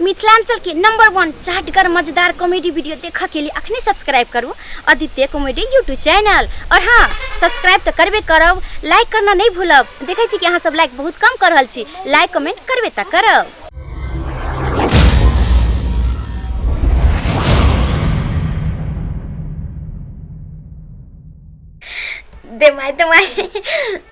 मिथिलांचल के number one चाटगर मजेदार कॉमेडी वीडियो देखा के लिए अखने सब्सक्राइब करू आदित्य कॉमेडी यूट्यूब चैनल और हाँ सब्सक्राइब तो करबे करब लाइक करना नहीं भूलब देखे छी कि अहाँ सब लाइक बहुत कम कर रहल छी लाइक कमेंट करबे तो करब दे माय दे माय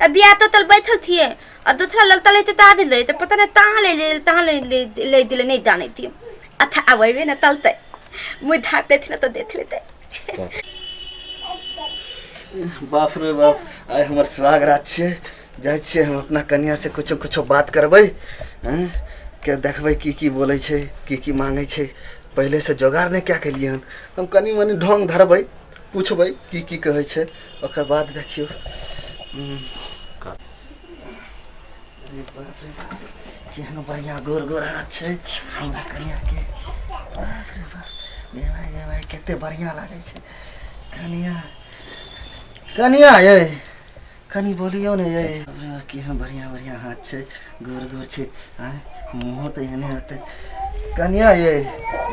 तऽ बिया तो तल बैठल थिए आ दोसरा लग तले ते ता दिले ते पता नहीं तहाँ ले ले तहाँ ले ले ले दिले नहीं जाने थिए अच्छा आवे ना तलते मुँह धाप लेते ना तो देख लेते बाप रे बाप आइ हमर सुहाग रात छियै जाइ छियै हम अपना कनिया से कुछो कुछो बात करबै हैं? के देखबै की की बोलै छै की की मांगै छै पहिले से जोगाड़ नहि कए केलियै हन हम कनि मनि ढोंग धरबै पूछबै की की कहै छै ओकर बाद देखियौ हम्म, का- अरे बाप रे बाप, केहन बढ़िया गोर गोर हाथ छै हमरा कनिया के बाप रे बाप गे भाई गे भाई कते बढ़िया लागै छै कनिया कनिया यै कनी बोलियो ने ये केहन बढ़िया बढ़िया हाथ छै गोर गोर छै आँय, मुँहो तऽ एहने होतै कनिया ये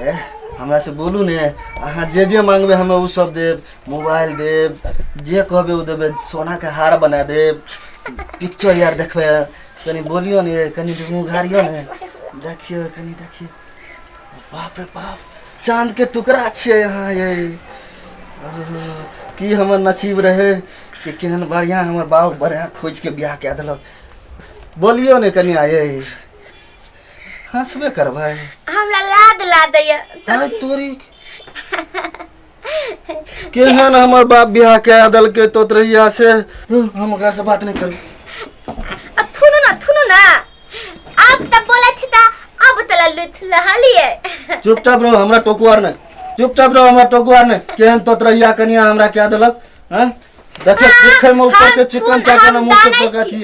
ए, हमरा से बोलू ने अहाँ जे जे मांगबै हमे उ सब देब मोबाइल देब जे कहबै उ देबै सोना के हार बना देब पिक्चर यार देखबै कनी बोलियो ने ये कनी मुँह घारियो ने देखियो कनी देखियो बाप रे बाप चांद के टुकड़ा छियै यहाँ ये की हमर नसीब रहे कि केहन बढ़िया हमर बाप बढ़िया खोज के बियाह कए देलक बोलियो ने कनिया ये हंसबे करबै हमरा लाद ला दैया आय तोरी केहन हमर बाप बियाह कए देलकै तो रहिया से हम ओकरा से बात नहीं करू अब थुनु ना थुनु ना अब तब बोला थी ता अब तला लुथ लहाली है चुपचाप रहो हमरा टोकू आर ने चुपचाप रहो हमरा टोकू आर ने केहन तो रहिया कनिया हमरा कए देलक हैं देखे देखे में ऊपर से चिकन चाकन मुंह से पका थी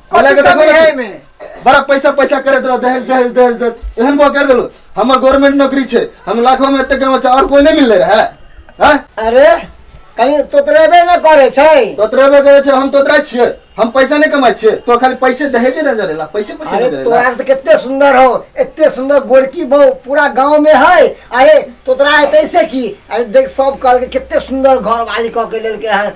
कथी लगे देखो कमी ना है तू। एहिमे? बड़ा पैसा पैसा करे दो दहेज दहेज दहेज दे एहन बो कर देलो हमर गवर्नमेंट नौकरी छै हम लाखों में एते कमा और कोई नहीं मिलले रहे हैं अरे कहीं तोतरेबे न करे छै तोतरेबे करे छै हम तोतरा छियै हम पैसा नहीं कमाई छियै तो खाली पैसे दहेज नजर एला पैसे पैसे अरे नजर तोरा एला से तो कितने सुंदर हो इतने सुंदर गोरकी बहु पूरा गांव में है अरे तोतरा है तैसे की अरे देख सब कहल के कितने सुंदर घर वाली कह के लेलके है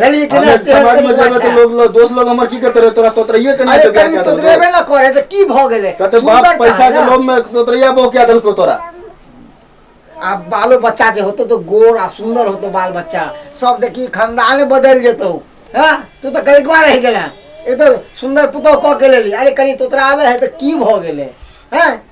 यानी कि हमे ना तेहन समाज में तरीका जेबे छै। तऽ लोग लोग- दोस्त लोग हमर की करते रहे तोरा तोतरिये के नहीं अरे से बियाह कहीं कए तो देलको। देबे ना करे तऽ की भऽ गेलै कहते बाप सुन्दरता है पैसा के ना। लोभ में तोतरिया बो क्या देलको तोरा आ बालो बच्चा जे होतो तो गोर आ सुंदर होतो बाल बच्चा सब देखी खानदाने बदल जेतो हैं तू तो कई बार रह गेला ए तो सुंदर पुतौ कह के लेली अरे कहीं तोतरा आवे है तो की भ गेले हैं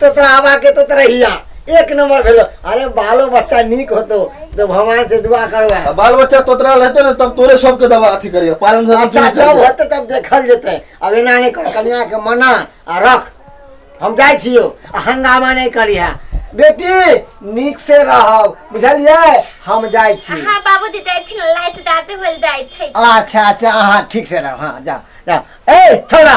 तो तोरा आबा के तो तोरा हिया एक नंबर भेलो अरे बालो बच्चा नीक होतो तो भगवान से दुआ करवा आ बाल बच्चा तोतरा रहते ने तब तोरे सबके दवा अथी करिए पालन से अच्छा अथी जब करिहे। होते तब देखल जेते अब एना नहीं कर कनिया के मना आ रख हम जाय छियो आ हंगामा नहीं करी है बेटी नीक से रहब बुझलिए हम जाय छी हाँ बाबू दी जाए थे लाइट दादे बोल जाए थे अच्छा अच्छा हाँ ठीक से रहो हाँ जाओ जाओ ए थोड़ा